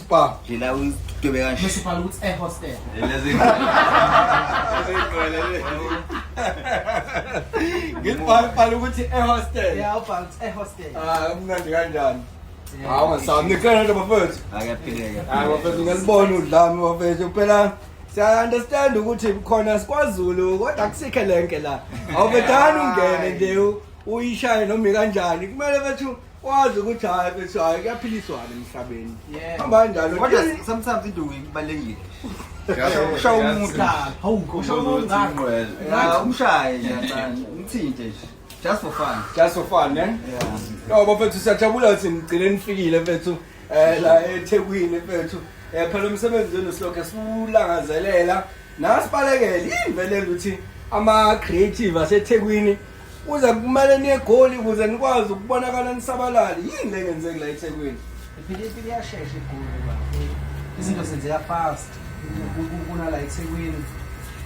Spa. Ngila udwebe kanje. Mse ubhala ukuthi e hostel. Lezi. Ngibhala bhala ukuthi e hostel. Yeah, ubhala ukuthi e hostel. Ah, umnandi kanjani? Hawu ngisaba nikhona nje bafethu. Akaphileka. Hayi bafethu ngalibona udlami bafethu phela siya understand ukuthi khona sikwazulu kodwa akusikhe lenke la. Awubethani ungene nje uyishaye noma kanjani. Kumele bethu wazi ukuthi hayi bethi hayi kuyaphiliswana emhlabeni Yeah. hamba kanjalo kodwa Just- sometimes induku ibalulekile Just- ushawa just- umuntu hawu ushawa umuntu ngani Well, Ya, umshaye nje kancane umthinte nje just for fun just for fun eh no bafethu siyajabula ukuthi nigcine nifikile mfethu eh la eThekwini mfethu eh phela umsebenzi wenu silokhe siwulangazelela nasibalekele yini vele ukuthi ama creative aseThekwini Uze kumele niye eGoli ukuze nikwazi ukubonakala nisabalale. Yini le ngenzeki la eThekwini? Iphile impilo iyashesha eGoli baba. Izinto zenzeka fast. Ku- ku- Kunala eThekwini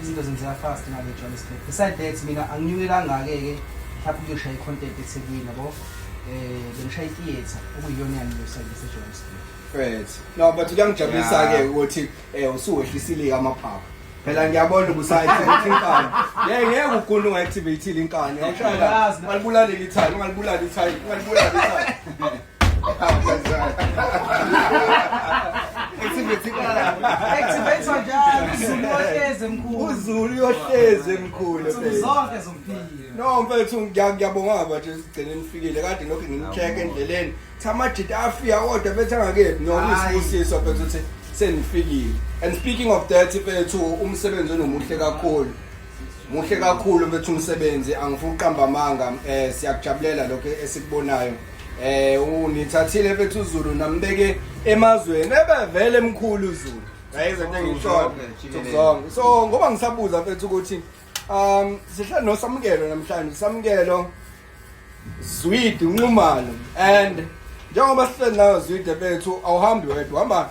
izinto zenzeka fast ngale eJohannesburg. Beside that mina anginyuke kangake-ke mhlawumbe ukuyoshaya i-content eThekwini yabo. Eh bengishaye i-theatre okuyiyona eyangiyosayisa eJohannesburg. Right. No, but kuyangijabulisa-ke ukuthi Eh usuwehlisile amaphaphu. Phela ngiyabona ubusayithi ukuthi inkani. Hey ngeke ugunde ungaactivate inkani. Awushaya. Ungalibulala ithayi, ungalibulala ithayi, ungalibulala ithayi. Activate inkani. Activate kanjani? Uzulu ohleze mkhulu. Uzulu yohleze mkhulu. Zonke zompilo. No mfethu ngiyabonga baba nje sigcine nifikile kade nokho ngimcheck endleleni. Thamajita afika kodwa bethe angakephi nokuyisibusiso bethu ukuthi senifikile. And speaking of that bethu umsebenzi onomuhle kakhulu. Muhle kakhulu bethu umsebenzi angifuni uqamba amanga eh siyakujabulela lokho esikubonayo. Eh unithathile bethu uZulu nambeke emazweni ebevele emkhulu uZulu. Yayizo into engishona. Zonke. So ngoba ngisabuza bethu ukuthi Um sihlala noSamukelo namhlanje Samukelo Zwidi unxumalo and njengoba sihleli nayo Zwidi bethu awuhambi wedwa hamba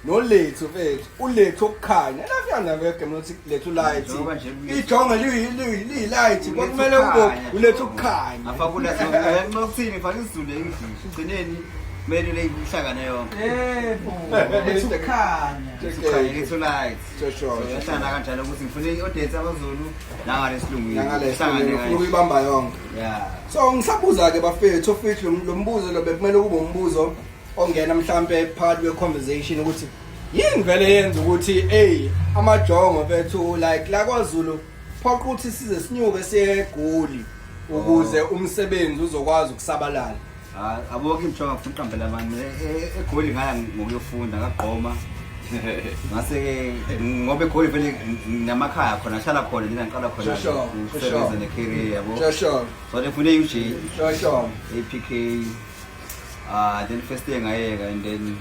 nolethu bethu ulethu okukhanya lafika nawe game lothi lethu light Njengoba nje kuyi- ijonga liyi- liyi- liyi light Ulethu kwakumele kube ukukhanya. ulethu ukukhanya afakula nxa ukuthini fana isizulu english ugcineni kumele le ihlangane yonke Yebo. Lethu khanya. Ukhanya, lethu light yahlala kanjalo ukuthi ngifuna i-audience yamazulu nangalesilunguufuna ukuyibamba yonke so ngisabuza-ke bafethu ofithi lo mbuzo lo bekumele kube umbuzo ongena mhlawumpe phakathi kwe-conversation ukuthi yini vele yenza ukuthi eyi amajongo fethu like la kwazulu phoqa ukuthi size sinyuke siye egoli ukuze umsebenzi uzokwazi ukusabalala Ah, abokho imthoka ngifuna uqambela abantu mina e- e- egoli ngaya ngokuyofunda ngagqoma ngase-ke ngoba egoli vele nginamakhaya khona ngihlala khona nina ngiqala khona Sure, sure, ngisebenze sure. ne-career yabo Shosholo, so ngifune i-ug shosholo. APK uh, then first day ngayeka and then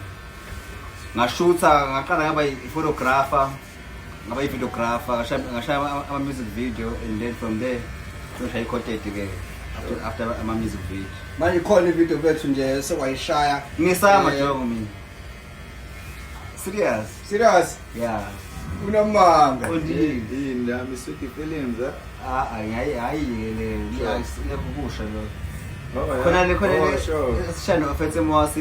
ngashutha ngaqala ngaba i-photographer ngaba i-videographer ngashaya ama-music video and then from there soshaya i-content-ke after ama-music video manje ikhona ivideo bethu nje sekwayishaya ngisama eh, jongo mina serious serious yeah unamanga yini lami sweet feelings eh? ah, ah hayi hayi le ngiyakusho lo khona le khona le sishano ofetse mwasi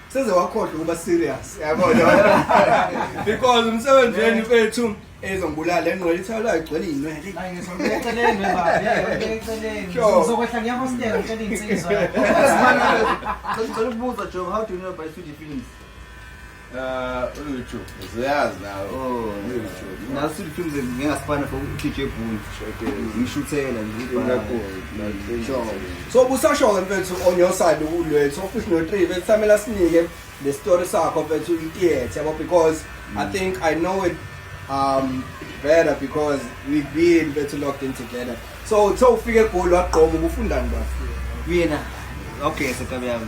seze wakhohlwa ukuba serious yabona because umsebenzi wenu bethu ezongibulala le ngqola ithawula igcwele iy'nwele Ngicela ukubuza Joe, how do you know about 3D films? Uh, uLuju. uzoyazi nawe oh nasu films ngingasifana for DJ Boon ngishuthela nje so busasho ke mfethu on your side ukulwethu office no 3 bethamela sinike the story sakho mfethu itiyethe yabo because i mm. think i know it um better because we've been better locked in together so uthe ufike egoli wagqoma ubufundani bafo kuyena okay sekabe yami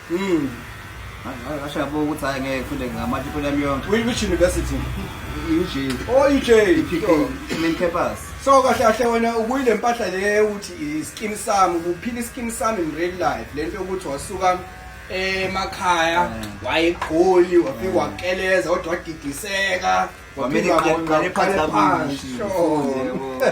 Mm. Ngasho yabo ukuthi hayi ngeke ngifunde ngamanje impilo yami yonke. Which, which university? UJ. Oh, UJ. IPK, main campus. So kahle kahle wena ukuyile mpahla le ukuthi iskin sami, ukuphila iskin sami in real life. Lento yokuthi wasuka emakhaya wayegoli wafika wakeleza kodwa wadidiseka wamele Kwamele ngaqale phansi kabushi. Sure.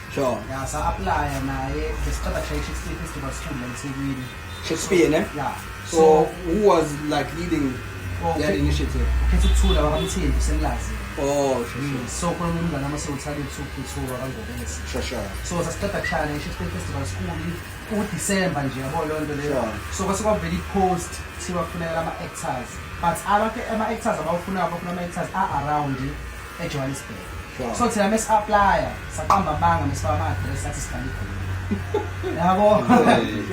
Sure. Ya sa apply naye besiqeda kushaya Shakespeare Festival School la eThekwini. Shakespeare ne? Yeah. So, So who was like leading Oh, that okay. initiative? ukhetha ukuthula bakamthembi senilazi. Oh, sure, sure. So khona umngane ama sewuthanda ukuthula kangobese. Sure, sure. so sasiqeda kushaya ne-shakespeare festival school udisemba nje yabo loo nto leyo Sure. so kwase kwavela i-post kuthiwa kufuneka ama-actors but abantu ama-actors abawufunayo bafuna ama-actors a-around ejohannesburg Wow. so thina mesi-aplya saqamba amanga mesifaka ama-adress athi sihlala egoli yabo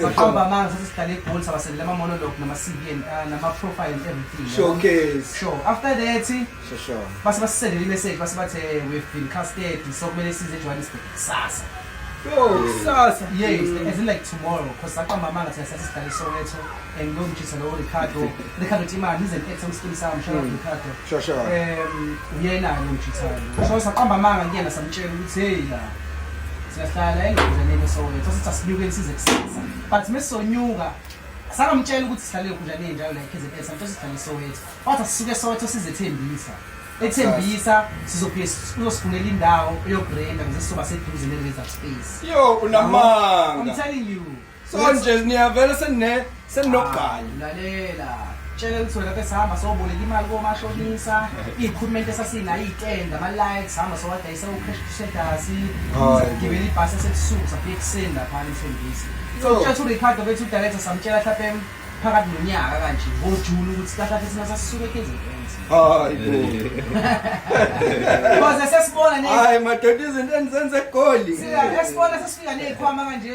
saqamba amanga sathi sihlala egoli sabasendela ama-monolog nama-cv and, uh, nama-profile and everything yabo. Showcase. sure after that Sure, sure. base basisendele i-message base bathe we've been casted so kumele size ejohannesburg kusasa Yo, kusasa. yes as in like tomorrow because saqamba amanga thina sathi sihlala esoweto and no mjisa lo Ricardo Ricardo Timani is an excellent skin sam shout out mm. Ricardo sure sure um uyena ke mjisa lo so saqamba amanga kuyena samtshela ukuthi hey la siyahlala engizenene so so sithi asinyuke size kusasa but mesonyuka sangamtshela ukuthi sihlale ekhunjaneni njalo la eKZN samtshela sihlale Soweto wathi asisuke Soweto sizethembisa ethembisa sizobuye uzosifunela indawo eyobrenda ngizesizoba seduze ne-reserve space yo unamanga i'm telling you so nje niyavela senine seninogqala lalela tshela ukuthi wena besihamba soboleka imali komashonisa iyikhulumenti esasinayo iyitenda ama-likes hamba sowadayisa ucash crusaders gibela ibhasi esebusuku sabuya ekuseni laphana emfundisi so Yo. kutshela uricardo bethu udirector samtshela mhlawumbe em- phakathi nonyaka kanje ngojuni ukuthi kahlahle thina sasisuke ekenzeni hayi bo koze sesibona ne hayi madoda izinto endizenza egoli sesibona sesifika ney'khwama kanje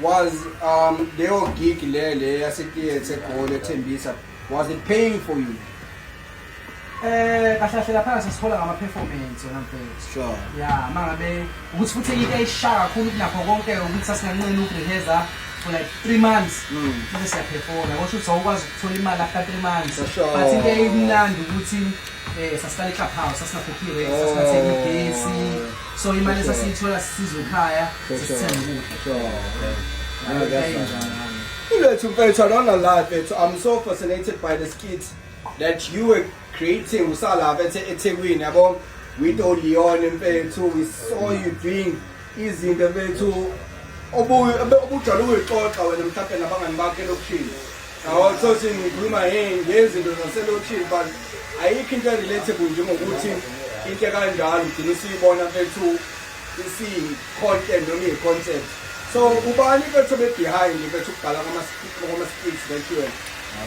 Was um leyo gig le le yase theatre egoli ethembisa was it paying for you? Eh kahlahlela phansi sithola ngama performance yona mfethu. Sure. Yeah, mangabe ukuthi futhi into eyisha kakhulu kunakho konke ukuthi sasinganqeni ukurehearsa for like 3 months. Mm. Bese siyaphefona. Kusho ukuthi awukwazi ukuthola imali after 3 months. For sure. But into eyimnandi ukuthi eh sasihlala eClub House, sasingakhokhi rent, sasingathengi gesi. so imali esasiyithola sisizwe ekhaya sisithenge ukudla ulethu mfethu i don't know lie mfethu i'm so fascinated by the skit that you were creating usalapha ethekwini yabo with oleon mfethu we saw you doing izinto mfethu obujwayele ukuyixoxa wena mhlawumbe nabangani bakho elokishini Awuthothi ngikhuluma ngezinto zaselokishini but ayikho into relatable njengokuthi into kanjalo ugcina usiyibona bethu isiyi-content noma iyi-concept so ubani bethu be-behind bethu ukubhala kwama-skits that you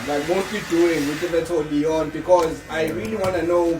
like mostly doing with bethu leon because i really want to know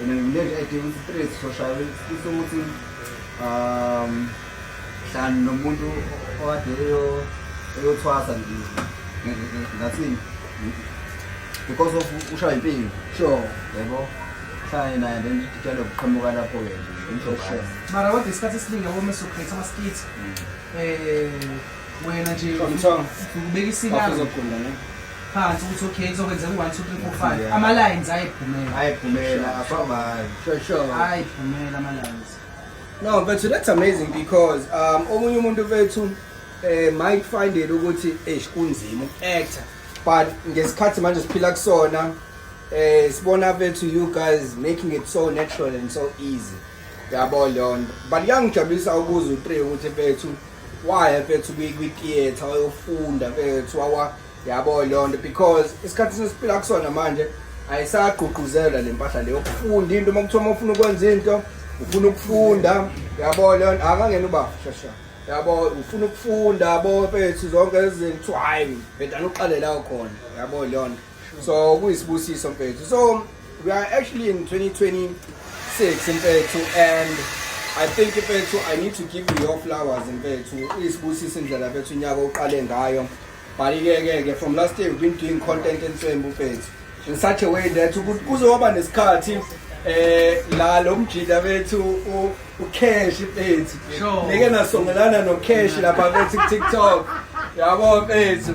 And then we lived at the street social sifisa ukuthi um hlani nomuntu okade eyo eyothwasa nje ngathini because of ushaya impilo sure yebo hlani naye then tshela ukuqhamuka lapho ke nje mara kodwa isikhathi esiningi yabo meso create ama skits mm. eh wena nje ukubeka isilanga phansi ukuthi okay kuzokwenzeka u-one two three four five ama-lines ayephumela ayephumela afamani ayephumela ama-lines no but that's amazing because um omunye umuntu bethu um eh, might find it ukuthi eish kunzima uku-actor but ngesikhathi manje siphila kusona um eh, sibona bethu you guys making it so natural and so easy yabo leyo nto but kuyangijabulisa ukuza u-three ukuthi bethu waya mfethu kwi-theatre wayofunda mfethu wawa yabo leyo nto because isikhathi sesiphila kusona manje ayisagqugquzela le mpahla leyo ukufunda into uma kuthiwa uma ufuna ukwenza into ufuna ukufunda yabo leyo nto akangena uba shasha yabo ufuna ukufunda yabo mfethu zonke lezi zinto kuthiwa hhayi vedane uqale lawo khona yabo leyo nto so kuyisibusiso mfethu so we are actually in 2026 mfethu and I think mfethu I need to give you your flowers mfethu isibusisa indlela mfethu unyaka uqale ngayo but ke ke from last year we've been doing content enswembu mfethu in such a way that kuzoba nesikhathi eh la lo mjida bethu ucash mfethu ngeke nasongelana no cash lapha bethi TikTok yabo mfethu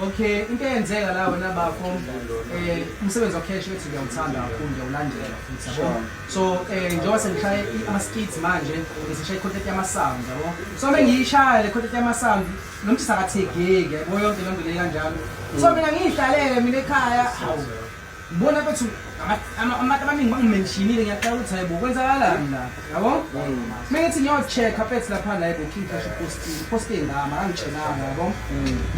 Okay, into eyenzeka la wena bafo eh umsebenzi wa cash ethi ngiyawuthanda kakhulu ngiyawulandela futhi yabo. So eh njengoba sengishaye ama skits manje ngisishaye content yama sound yabo. So uma ngiyishaya le content yama sound nomthi sakathegeki yabo yonke lento le kanjalo. So mina ngiyihlalele mina ekhaya. Hawu. Bona bethu abantu abaningi bangimentionile ngiyaqala ukuthi hayibo kwenzakalani la yabo uma ngithi ngiyocheck-a pets lapha la yebo king cash posting poste ngama angitshelanga yabo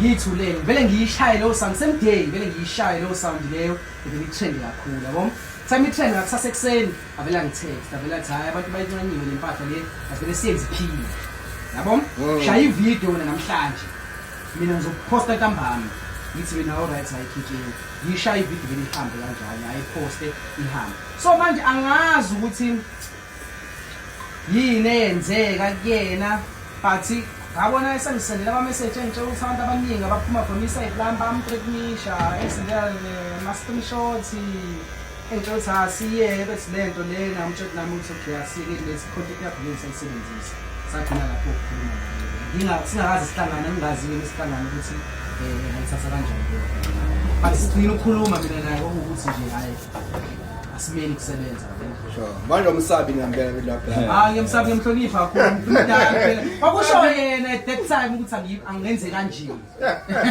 yithu le vele ngiyishaye leyo sound same day vele ngiyishaye leyo sound leyo ngivele ithende kakhulu yabo sami ithende ngakusasa ekuseni avele angitext avele athi hayi abantu bayincanyiwe le mpahla le asivele siyenze iphile yabo shaya ividiyo wena namhlanje mina ngizokuphosta ntambama ngithi mina all right hayi khikini Yishaye ividiyo vele ihambe kanjani, ayiposte ihambe. So manje angazi ukuthi yini eyenzeka kuyena but ngabona esengisendela ama-message engitshela ukuthi abantu abaningi abaphuma from i-side lam bamtreknisha engisendela eh, ma-screenshots Ngitshela ukuthi asiyeke bethi le nto lena umtshela nami ukuthi okay asike kulesi khonto kuyabhuleni sayisebenzisa sagcina lapho ukukhuluma naye singakazi sihlangana ngingaziwe lesihlangana ukuthi um ngayithatha kanjani leyo but sigcina ukukhuluma mina naye okuwukuthi nje hhayi asimeli kusebenza manje umsabi ngempela belapha hayi ah, ngiyamsabi ngiyamhlonipha kakhulu umdala phela kwakusho yena at that time ukuthi angenze kanje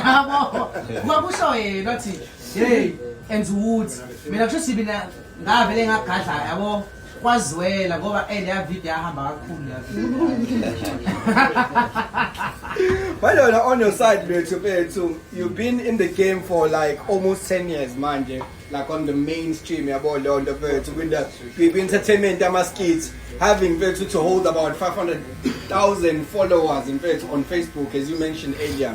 yabo kwakusho yena wathi Hey, and wood. Mina kusho sibi na ngavele ngagadla yabo. Kwazwela ngoba eh leya video yahamba kakhulu leya video. Balona on your side bethu bethu you've been in the game for like almost 10 years manje like on the mainstream yabo leyo nto bethu kwinda kwi entertainment ama skits having bethu to hold about 500,000 followers in fact on Facebook as you mentioned earlier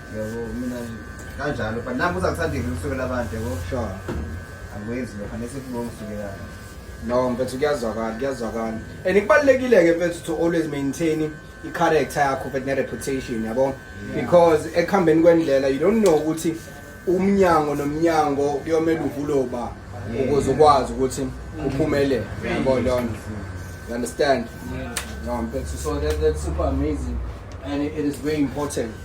yabo mina kanjalo but nami uzakuthandile ukusukela abantu yabo sure angikwenzi lokho anese kubongisukelayo no mfethu kuyazwakala kuyazwakala and kubalulekile-ke mfethu to always maintain i-character yakho mfethu ne-reputation yabo because ekuhambeni kwendlela you don't know ukuthi umnyango nomnyango kuyomele uvuloba ukuze ukwazi ukuthi uphumelele yabo lona you understand no mfethu so that, that's super amazing and it is very important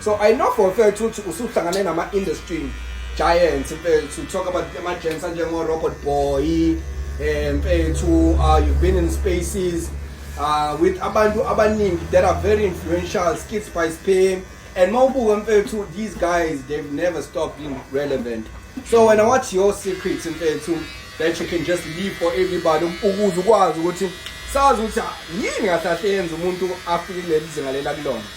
So I know for a fact ukuthi usuhlangane nama industry giants mfethu talk about ama giants anjengo Robot Boy eh mfethu uh, you've been in spaces uh, with abantu abaningi that are very influential skits by Spam and mawubuka mfethu these guys they've never stopped being relevant so when I watch your secrets mfethu that you can just leave for everybody ukuze ukwazi ukuthi sazi ukuthi yini ngahlahle yenza umuntu afike leli zinga lela kulona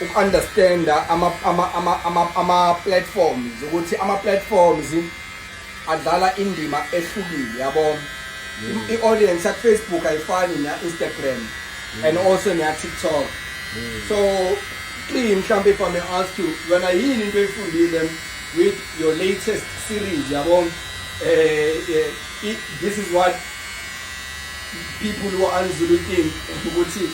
uku-understanda ama-platforms ukuthi ama-platforms adlala indima ehlukile yabo mm. i-audience yakufacebook ayifani neya-instagram mm. and also neya-tiktok mm. so clean mhlawumbe if i may ask you yona yini into oyifundile with your latest series yabo um this is what people who are unzulu think ukuthi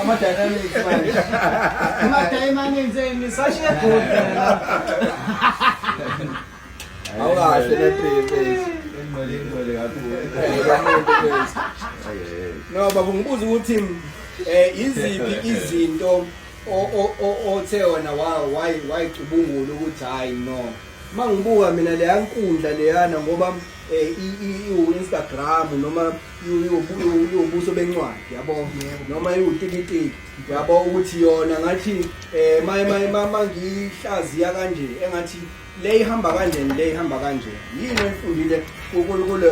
Ama-dynamics manje. Ama-dynamics eni sashe good. Awukahle nephephe. Ingcwele ingcwele kakhulu. No baba ngibuza ukuthi eh iziphi izinto othe wona why why cubungula ukuthi hayi no mangibuka mina leya nkundla leyana ngoba eh i Instagram noma ubuso bencwadi yabo noma iwutikitiki yabo ukuthi yona ngathi um ma ngihlaziya kanje engathi le ihamba kanjeni le ihamba kanjeni yini oyifundile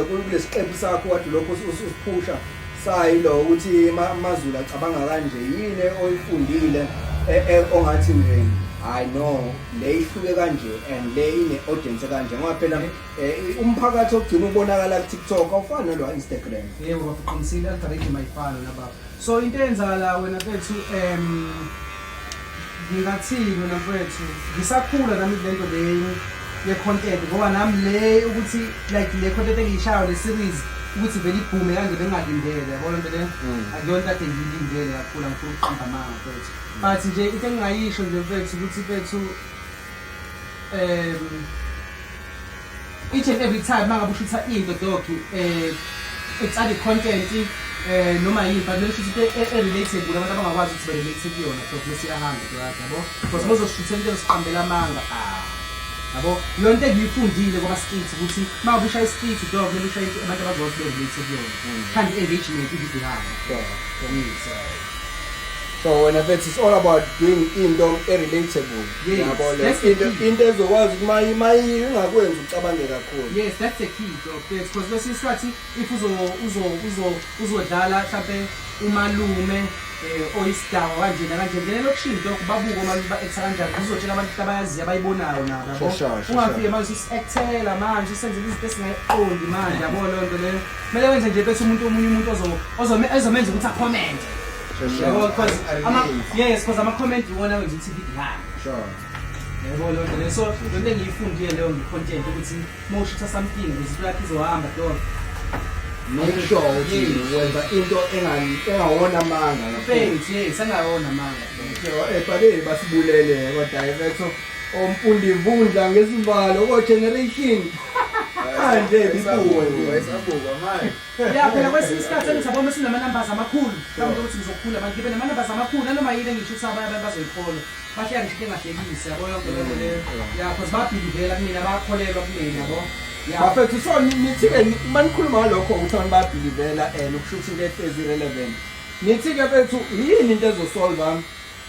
kulesiqephu sakho kade lokho usiphusha sayilo ukuthi amazulu acabanga kanje yini oyifundile e, e, ongathi nje hayi no le ihluke kanje and le ine-audience kanje ngoba phela Eh umphakathi ogcina ubonakala ku TikTok awufani nalo wa Instagram. Yebo baba uqinisile algorithm ayifani na baba. So into eyenzakala wena bethu em ngingathini wena mfethu ngisakhula nami lento leyo ye content ngoba nami le ukuthi like le content engiyishayo le series ukuthi vele ibhume kanje bengalindele yabo lento le Mm. akuyona kade ngiyilindele kakhulu angifuni ukuqamba amanga mfethu but nje into engingayisho nje mfethu ukuthi mfethu um each and every time uma ngabe ushutha into doki um eh, etsali content um eh, noma yini but lelo shutha into e-, e-relatable abantu abangakwazi ukuthi ba-relate kuyona doki bese iyahamba doki yabo because uma uzoshuthela into eziqambela amanga ah yabo leyo nto engiyifundile kwaba street ukuthi uma ubushaya street dog kumele ushaye abantu abazokwazi be-relate kuyona mm. khanda i-engagement ividiyo ihamba so wena mfethu it's all about doing into e-relatable Yes, yabo le that's the into key. into ezokwazi ukuthi mayi mayi ingakwenza ucabange kakhulu Yes, that's the key though. Yes, because kwesinye isikhathi if uzo uzo uzo uzodlala mhlambe umalume eh oyisidawa kanjena kanje ngene lokushini lokho babuke uma ba actor kanjani uzotshela abantu ukuthi abayaziyo abayibonayo nabo yabo. Shasha, shasha. ungafike manje usactela manje usenze izinto esingayiqondi manje yabo lonto leyo kumele wenze nje bese umuntu omunye umuntu ozo ozome ezomenza ukuthi acomment Yabo because ama yes because ama comment iwona wenza ukuthi ngidlale. Sure. Yabo lo nto so lo nto engiyifundile leyo ngi content ukuthi mawushisa something izinto yakhe izohamba dog. Make sure ukuthi wenza into engawona amanga. Thanks, yes, engawona amanga. Eh, bade basibulele kodwa director omfundi imvundla ngezibalo ko generation. Manje bibuwe. Wayesabuka manje. ya phela kwesinye isikhathi engithi aboma sinamanambazi amakhulu kambe ukuthi ngizokhula manje ngibe namanambazi amakhulu nanoma yini engisho ukuthi abanye abantu bazoyikholwa bahleka ngisho engahlekisi yabo yonke lento leyo ya cause babhilivela kumina bakholelwa kumina yabo bafethu so nithi-ke uma nikhuluma ngalokho ukuthi abantu bayabhilivela and ukusho ukuthi into ehlezi irelevant nithi-ke fethu yini into ezosolva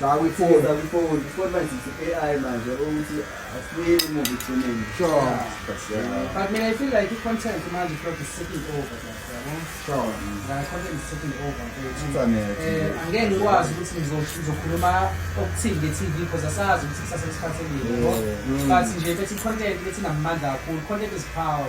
Zakwifoni. Zakwifoni. Ifoni manje i-AI manje ukuthi asibuyele emuva ekugcineni. Sure. But mina I feel like i-content manje is is taking over. Sure. La content is taking over. Eh angeke ngikwazi ukuthi ngizokhuluma okuthini nge-TV because asazi ukuthi kusasa lesikhathi elini. But nje bethi content bethi namandla kakhulu. Content is power.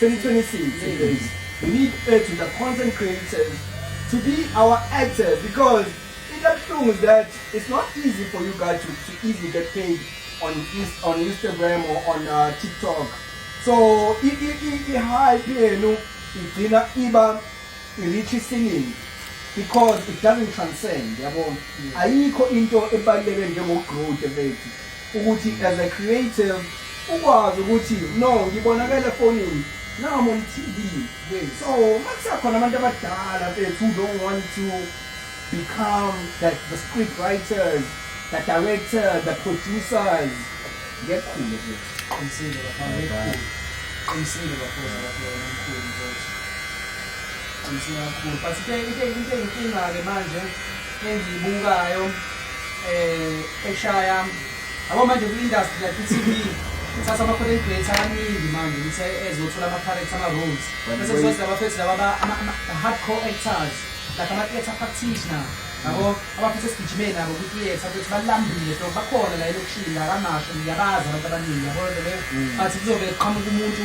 2026 is we need urgent the content creators to be our actors because into ebuhlungu is that it's not easy for you guys to, to easily get paid on, Inst- on Instagram or on uh, TikTok. So i- i- i- i-hype yenu igcina iba i-reach isiningi because it doesn't transcend yabo ayikho into ebaluleke njengokugrude bethu ukuthi as a creative ukwazi ukuthi no ngibonakala efonini now I'm on TV yes. so makusakhona abantu abadala bethu who don't want to become that the script writers the director the producers ngekhulu ke qinisile bafana ngekhulu qinisile bafana bafana ngekhulu mfowethu qinisile kakhulu but into into inkinga ke manje engiyibukayo eh eshaya yabo manje kwi industry like iTV uthatha ama content creator abaningi manje uthe ezothola ama character ama roles bese kuzoza abafethu laba ba- ama- ama- hardcore actors like ama theater practitioner yabo abafethu esigijimeni nabo kwi theater ukuthi balambile so bakhona la elokishini la kamasho ngiyabazi abantu abaningi yabo lento leyo but kuzobe kuqhamuka umuntu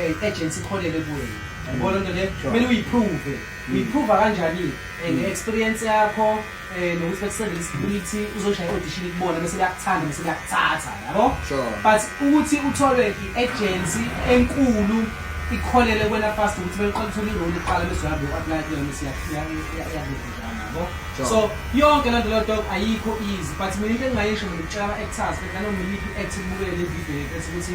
eh agency ikholele kuwe yabona into le kumele uyiprove mm. uyiprove kanjani eh, mm. ngeexperience yakho eh nokuthi bekusebenzisa isipiliti uzoshaya audition kubona bese liyakuthanda bese liyakuthatha yabo but ukuthi uthole i-agency enkulu ikholele kwena fast ukuthi beliqalisa uliroli iqala bese uyabe u-apply kuyona bese yabo so yonke lento lento ayikho easy but mina into engingayisho ngikutshela ama-actors bekana noma iyiphi i-act kubukele le video yethu ukuthi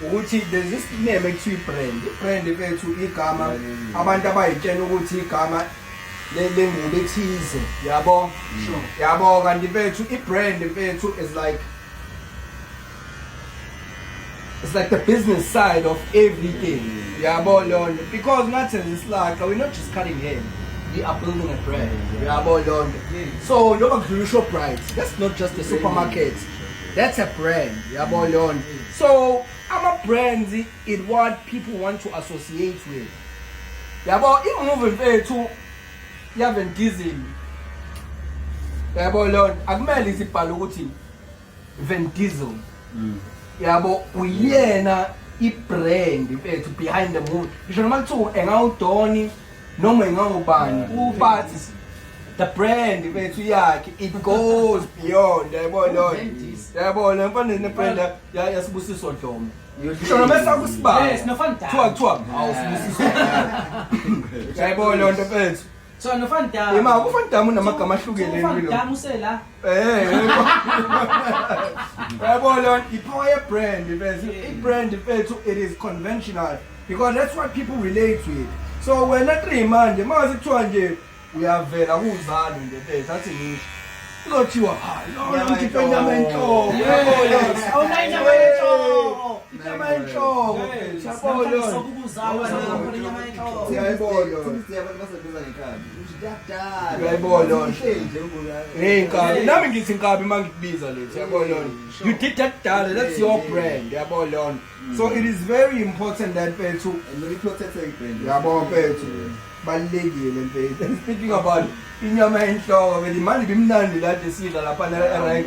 ukuthi there's this name ekuthiwa ibrand ibrand bethu igama abantu abayitshena ukuthi igama lengubo ethize yabo sure yabo kanti bethu ibrand bethu is like it's like the business side of everything yabo lonto because ngathi isilaxa we're not just cutting hair we are building a brand yabo lonto so njengoba kudlula ushoprite that's not just a supermarket that's a brand yabo lonto so ama-brands is what people want to associate with yabo imuvi mfethu yaven diesel yabo leyo nto akumele isibhale ukuthi van diesel mm. yabo uyena i-brand mfethu behind the movie ngisho noma kuthiwa engawudoni noma ingangubani ubathi the brand bethu yakhe it goes beyond yabo lo yabo lo mfana ne brand yasibusiso dlomo Shona mesa kusibala. Yes, nofana dala. Kuthiwa kuthiwa awusibusiso. Yabo lo nto bethu. So nofana dala. Yema kufana dala unamagama ahlukene empilweni. Nofana dala usela. Eh, yabo lon ipower ye brand mfethu. I brand mfethu it is conventional because that's what people relate with. So wena three manje mase kuthiwa nje uyavela kuzalo nje mfethu athi ngisho. Uzothiwa hayi lona mkhiphe inyama enhloko. Yabo lon. Awunayo inyama yenhloko. Inyama enhloko. Yabo lon. Siyayibona. Siyabona baseduza ngekhaya. nami ngithi nkabi uma ngikubiza lethu yabona you did that dala that's your brand yabona so it is very important that mfethu yabo mfethu balulekile mfethu and speaking about inyama enhloko vele imali bimnandi lade sidla lapha ne-rank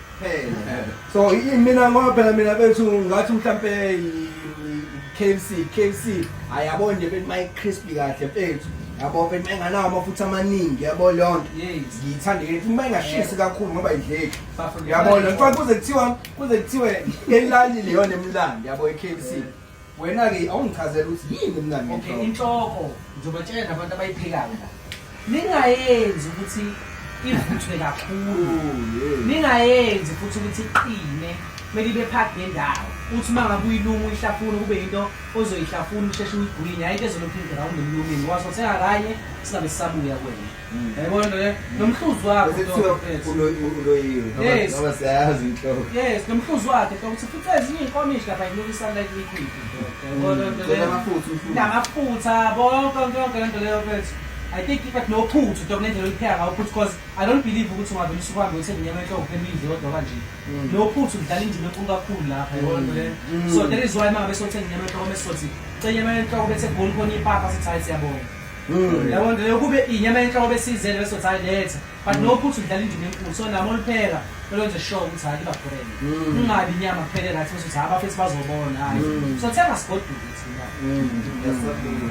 so mina ngoba phela mina bethu ngathi mhlampe KFC KFC ayabona nje bethi my crispy kahle mfethu yabo bethi enganawo amafutha amaningi yabo leyo nto ngiyithanda yethu uma ingashisi kakhulu ngoba idleki yabo le mfana kuze kuthiwa kuze kuthiwe elali leyo nemlandi yabo eKFC Wena ke awungichazela ukuthi yini mngani Okay, ngenhloko. inhloko ngizobatshela nabantu abayiphekayo la. Ningayenzi ukuthi ivuthwe kakhulu. Oh, yeah. Ningayenzi futhi ukuthi iqine. Kumele ibe phakathi nendawo. Uthi uma ngabe uyilunga uyihlafuna kube yinto ozoyihlafuna usheshe uyigwinye. Hhayi into ezolokhu iground emlumini. Wasothenga kanye singabe sisabuya kwena. yayibona nto le nomhluzi wakhe usekuthiwa ulo- uloyiwe ngoba Yes. ngoba siyayazi inhloko yes nomhluzi wakhe so ukuthi fica ezinye iy'nkomishi lapha yilukisa like liquid yayibona nto Cela le amafutha umfutha. namafutha bonke konke yonke lento leyo mfethu i think but nophuthu nto kunendlela olupheka ngawo phuthu because i don't believe ukuthi ungavele usukuhambe uthenge inyama enhloko phela uyidle kodwa kanje nophuthu kudlala indima enkulu kakhulu lapha yabona nto leyo so that is why mangabe sothenga inyama enhloko bese sothi cela inyama enhloko bethe goli khona ipapa sithi hayi siyabonga Mm. yabo nje kube inyama yenhloko besizele bese uthi letha but mm. no ukuthi udlala indima enkulu so nami olupheka lolwenze sure ukuthi hayi liba brand mm. ungabi inyama kuphele right ukuthi hayi abafethu bazobona hayi so thenga sigodule thina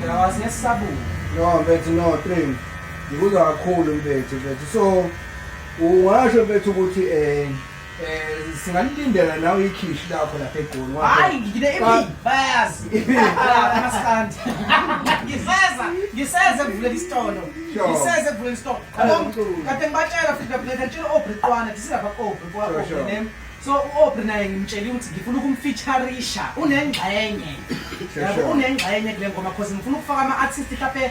yawazi yesabula no bethi no train ngikuzwa kakhulu mfethu mfethu so ungasho mfethu ukuthi um Eh singalilindela nawe ikhishi lakho lapha egoli. Hayi ngine imi bayazi. Maskandi. Ngiseza ngiseze kuvule isitolo. Ngiseze kuvule isitolo. Kade ngibatshela futhi lapha ngitshela obriqwana disilapha obri kwa obri name. So uobri naye ngimtshela ukuthi ngifuna ukumfeatureisha unengxenye. Yabo unengxenye kule ngoma because ngifuna ukufaka ama artist lapha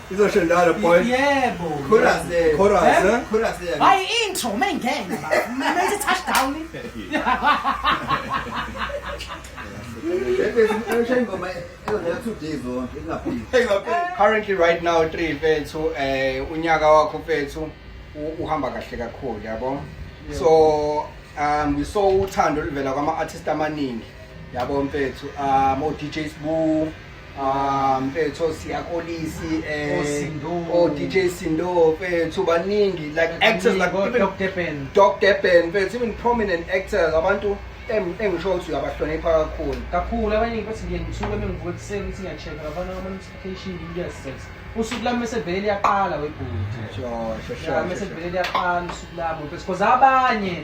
izosho njalo boy yebo chorus eh? chorus eh? chorus eh? hayi intro mengena mase touchdown currently right now three mfethu um unyaka wakho mfethu uhamba kahle kakhulu yabo so um we saw uthando oluvela kwama-artist amaningi yabo mfethu um o-dj sbu Ah mfethu siyakolisi eh o oh, DJ Sindo mfethu baningi like actors like even Doc Deppen Doc Deppen mfethu even prominent actors abantu engisho ukuthi uyabahlonipha kakhulu kakhulu abaningi bathi ngiye ngithuke mengivuka ekuseni ukuthi ngiyacheck abana ama notification yes usuku lami mesevele liyaqala webhuti sure sure sure mesevele liyaqala usuku lami mfethu because abanye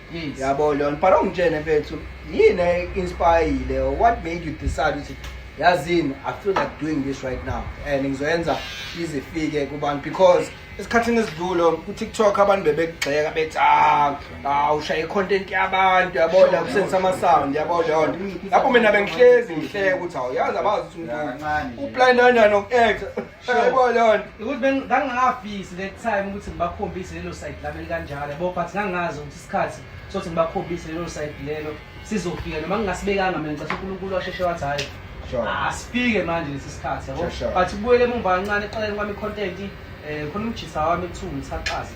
Yes. yabo leyo but ongitshene mfethu yini e-inspireyile or what made you decide ukuthi yazini i feel like doing this right now and ngizoyenza izifike kubantu because esikhathini esidlule kutiktok abantu bebekugxeka bethi ah ah, ushaya i-content yabantu yabona kusenzisa ama-sound yabo leyo nto lapho mina bengihlezi ngihleke ukuthi awuyazi abazi ukuthi umuntu uplaninani noku-acta Yebo lona. Ukuthi bengangafisi le time ukuthi ngibakhombise lelo side lami kanjalo yabo but ngangazi ukuthi isikhathi sothi ngibakhombise lelo side lelo sizofika noma ngingasibekanga mina ngicela uNkulunkulu washeshe wathi hayi asifike manje lesi sikhathi yabo but kubuyele emumva kancane eqaleni kwami content eh khona umjisa wami kuthiwa ngithaxaze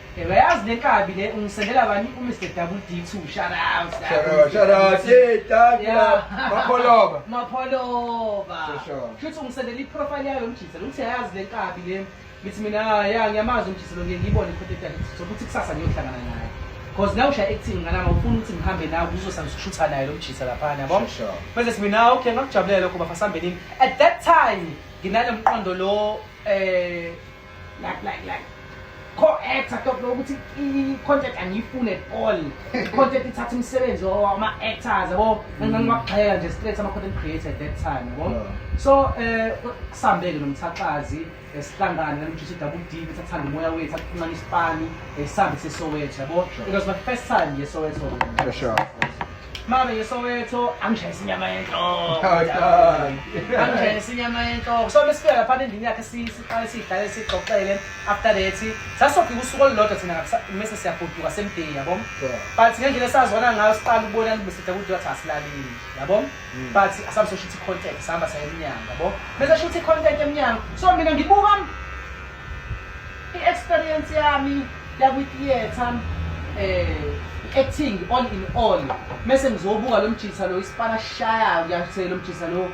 Yebo yazi le kabi le ungisendela bani u Mr Double D too shout out. Shout out, shout out. Hey, thank you. Mapholoba. Mapholoba. Shuthi ungisendela i profile yayo mjisa lo uthi yazi le kabi le. Ngithi mina ah, ya ngiyamazi umjisa lo ngiyibone ikhothe yakhe sokuthi kusasa ngiyohlangana naye. Cause now usha acting ngana ngifuna ukuthi ngihambe nawe kuzosa ngishutha naye lo mjisa lapha yabo. Bese mina ah, okay ngakujabulela lokho bafasambe nini. At that time nginalo mqondo lo eh like like like co-actor to lokho ukuthi i-content angiyifuni at all i-content ithatha imisebenzi ama-actors yabo ngangibagxeka nje straight ama-content creator at that time yabo so eh, um kusambeke nomthaxazi esihlangane eh, namjisa i-double d ukuthi athanda umoya wethu akuphumana isipani eh, sihambe sesoweto yabo it was my first time yesoweto sure Mama yeSoweto angishayisa inyama yenhloko. Angishayisa inyama yenhloko. So besifika lapha endlini yakhe siqale sidlale sixoxele after that sasofika usuku olulodwa thina mase siyagoduka semday yabo. But ngendlela esazwana ngayo siqala ukubona bese sithi ukuthi wathi asilalile yabo. Hmm. But asabe sosho ukuthi content sihamba saya emnyango yabo. Bese sho ukuthi content emnyango. So mina ngibuka I-experience yami yakwi-theatre eh acting all in all mese ngizobuka lo mjisa lo isipala sishayayo kuyase lo mjisa lo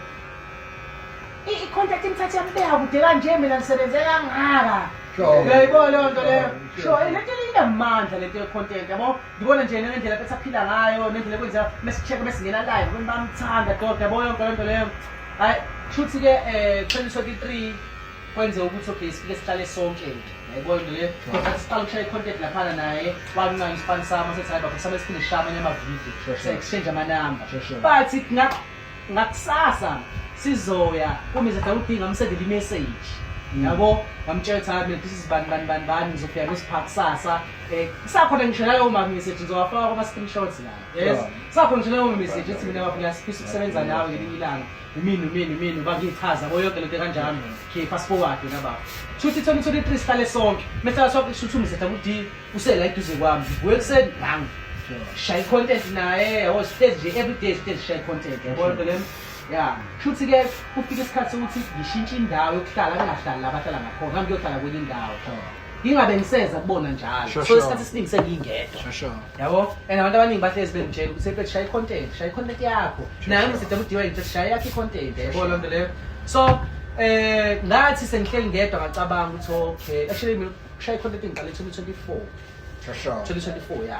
i-contact imthathe yambeka kude kanje mina ngisebenze kangaka uyayibona leyo nto leyo sho eh, lento inamandla lento ye-content yabo ngibona nje nendlela besaphila ngayo nendlela ekwenza mesicheck mesingena live abantu bamthanda doda yabo yonke lento leyo hayi shuthi-ke um eh, xheliso ki-three kwenze ukuthi okay sifike sihlale sonke nje yayibona into le but siqala ukushaya i-content laphana naye wamncane isipani sami sethi hayi bafisa besiphinde sishaye amanye amavidiyo Sure, sure. exchange amanamba Sure, sure. but nga- ngakusasa sizoya kumize dawuthi ngamsendela imessage Mm. yabo ngamtshela ukuthi hayi mina this is bani bani bani bani ngizofika kusipha kusasa um kusakhona ngisho nalowo ma-message ngizowafaka kwama-screenshots la yes Sure. kusakhona ngisho nalowo message ethi mina baba ngiyasifisa ukusebenza nawe ngelinye ilanga umini umini umini bakichaza boyonke lento kanjalo khipha sibokade nababa shuthi thona uthole itree sihlale sonke mesela sonke shuthi umzetha kudi usela iduze kwami ngibuye kuseni ngangu shaya i-content naye yabo stage nje everyday stage shaya i-content yabona nto lena ya shuthi ke kufika isikhathi sokuthi ngishintshe indawo yokuhlala bengahlali la bahlala ngakhona ngiyohlala kwenye indawo ngingabe ngiseza kubona njalo Sure, so sure. isikhathi esiningi sengingedwa Sure, sure. yabo and abantu abaningi bahlezi bengitshela ukuthi sebethi shaya i-content shaya i-content yakho naye mside mudiwa ngithi shaya yakho i-content yabo loo nto leyo so eh ngathi sengihleli ngedwa ngacabanga ukuthi okay actually mina kushaya i-content ngiqale 2024 Sure, sure. 2024 ya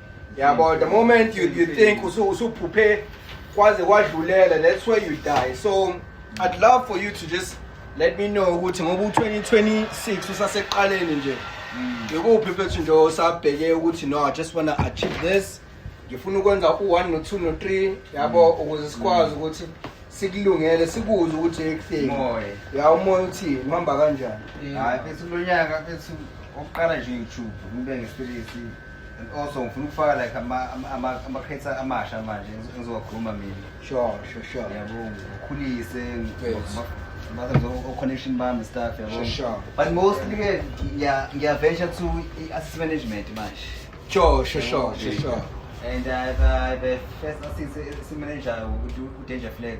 yabo the moment you, you think usu- usuphuphe kwaze kwadlulela that's where you die so i'd love for you to just let me know ukuthi ngoba u-2026 usaseqaleni nje ngikuphi mfethu nje osabheke ukuthi no i just wanna achieve this ngifuna ukwenza u-one no-two no-three yabo ukuze sikwazi ukuthi sikulungele sikuze ukuthi ekutheni Moya. ya umoya uthini uhamba kanjani hayi mfethu lo nyaka mfethu okuqala nje ngijubhu ngibe ngestelesi and also ngifuna ukufaka like ama- ama- ama- ama-creator amasha manje engizo- engizowakhuluma mina sure sure sure yabo ngikhulise Yes. o-connection bami staff yabo Sure, sure. but mostly ke ngiya- ngiyaventure to i-assist management manje sure sure sure sure sure and I've, I've a first assist manager udanger flex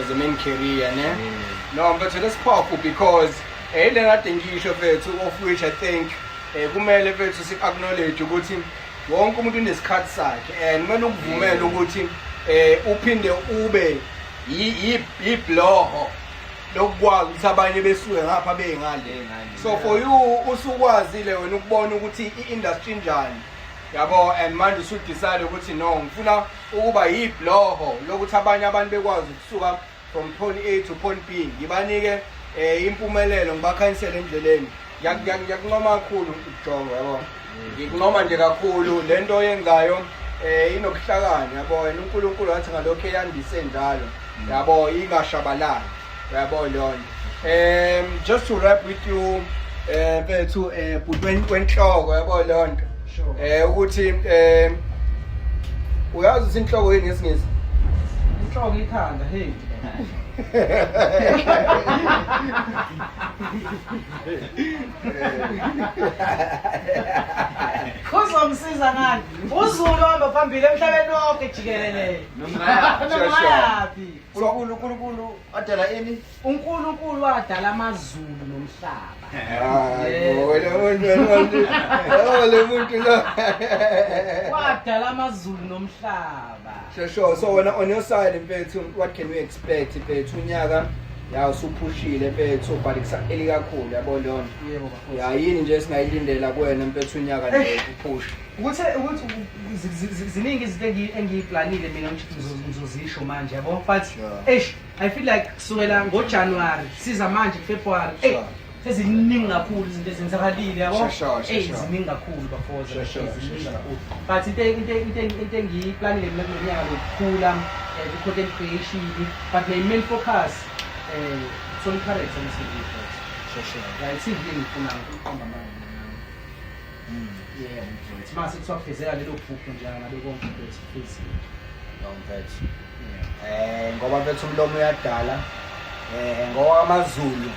as a main career ne no mfethu lesiphofu because eh le kade ngisho mfethu of which i think eh kumele mfethu si acknowledge ukuthi wonke umuntu unesikhathi sakhe and kumele ukuvumele ukuthi eh uphinde ube yibloho lokukwazi ukuthi abanye besuke ngapha bengale so for you usukwazile wena ukubona ukuthi i-industry njani yabo and manje usudecide ukuthi no ngifuna ukuba yibloho lokuthi abanye abantu bekwazi ukusuka from point a to point b ngibanike um impumelelo ngibakhanyisele endleleni ngiyakunqoma kakhulu ukujonga yabo ngikunqoma nje kakhulu le nto oyenzayo um eh, inobuhlakani yabo and unkulunkulu wathi ngalokhu eyandise njalo yabo ingashabalali Uyabo leyo nto. Um just to wrap with you eh bethu eh bhutweni kwenhloko yabo leyo nto. Eh ukuthi eh uyazi ukuthi inhloko yini ngesingisi? Inhloko ikhanda hey. uzomsiza ngani uzulu hamba phambili emhlabeni wonke jikelele nomngayapi unkulunkulu unkulunkulu wadala ini unkulunkulu wadala amazulu nomhlaba le muntu lo wadala amazulu nomhlaba shesho so wena on your side mfethu what can we expect mfethu unyaka ya usuphushile mfethu but kusaqeli kakhulu yabo leyo nto yayini nje singayilindela kuwena mfethu unyaka nje eh. uphushe ukuthi ukuthi ziningi izinto engiyiplanile mina ngizozisho manje yabo but eish i feel like kusukela ngojanuwari siza manje february ey seziningi kakhulu izinto ezenzakalile yabo ey ziningi kakhulu bafoza but into into engiyiplanile mina kulo nyaka lokukhula eh, ku-content creation but my main focus um solid character msebenzi right siyini ngifuna ukuqamba manje Mm, yebo mfethu. Mase kuthiwa kufezeka lelo phupho nje ngabe konke mfethu kufezile. Yebo mfethu. Eh ngoba mfethu umlomo uyadala. Eh ngoba amaZulu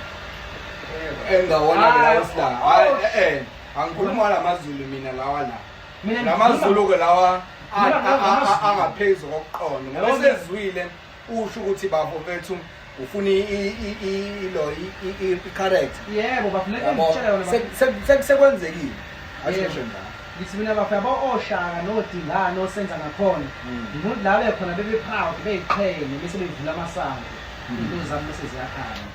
engawona mina wesla. Hayi eh, eh angikhuluma lamaZulu mina lawa la. Mina lamaZulu ke lawa angaphezulu kokuqonda. Ngoba sezwile usho ukuthi bafo bethu ufuna ilo i-correct yebo bafo le ngitshela yona sekwenzekile asisho njalo ngithi mina bafo yabo oshaka nodingane osenza ngakhona hmm. ngidlale khona bebe proud beyiqhenye bese bevula amasango hmm. into zami bese ziyakhanya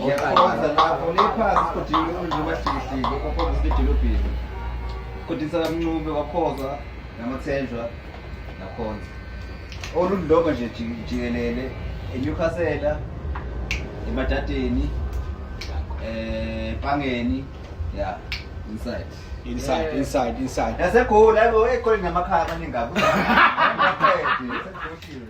Ngiyakhonza lapho liphasi sigodini umndlu wahlikihliki kwakhona sidolobheni. Kodisa kamncube kwakhoza namathenjwa nakhonza. Olundloba nje jikelele eNewcastle eMadadeni eh Pangeni yeah inside inside eh. inside inside. Nasegoli ayibo ekhona namakhaya amaningi kabi.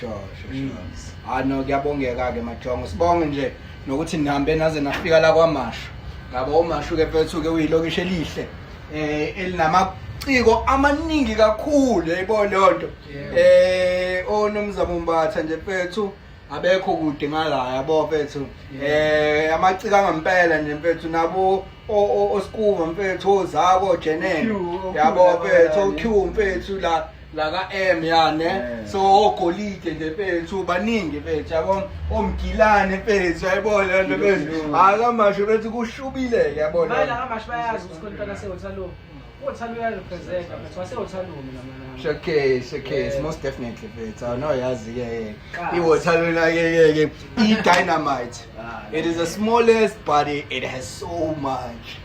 sure sure mm. sure hayi no kuyabongeka ke majongo sibonge nje nokuthi nihambe naze nafika la kwamashu ngaba umashu ke mfethu ke uyilokishi elihle eh elinama ciko amaningi kakhulu yayibona leyo nto eh onomzamo oh, mbatha nje mfethu abekho kude ngala yabo mfethu eh amaciko angempela nje mfethu nabo osikuva mfethu ozako jenene yabo mfethu oq mfethu la la ka M ya ne Yeah. so ogolide nje bethu baningi bethu yabo omgilane bethu yabo le nto bethu Ilungu. akamasho bethu kushubile yabo Manje la amasho bayazi ukuthi kontana sewothalungu. Uthalungu uyarepresenta but wasewothalungu lamanana. Showcase, showcase, Yeah. most definitely bethu awunoyazi ke yeke Kazi. iwothalona ke yeke i-dynamite Ah, it is the smallest but it, it has so much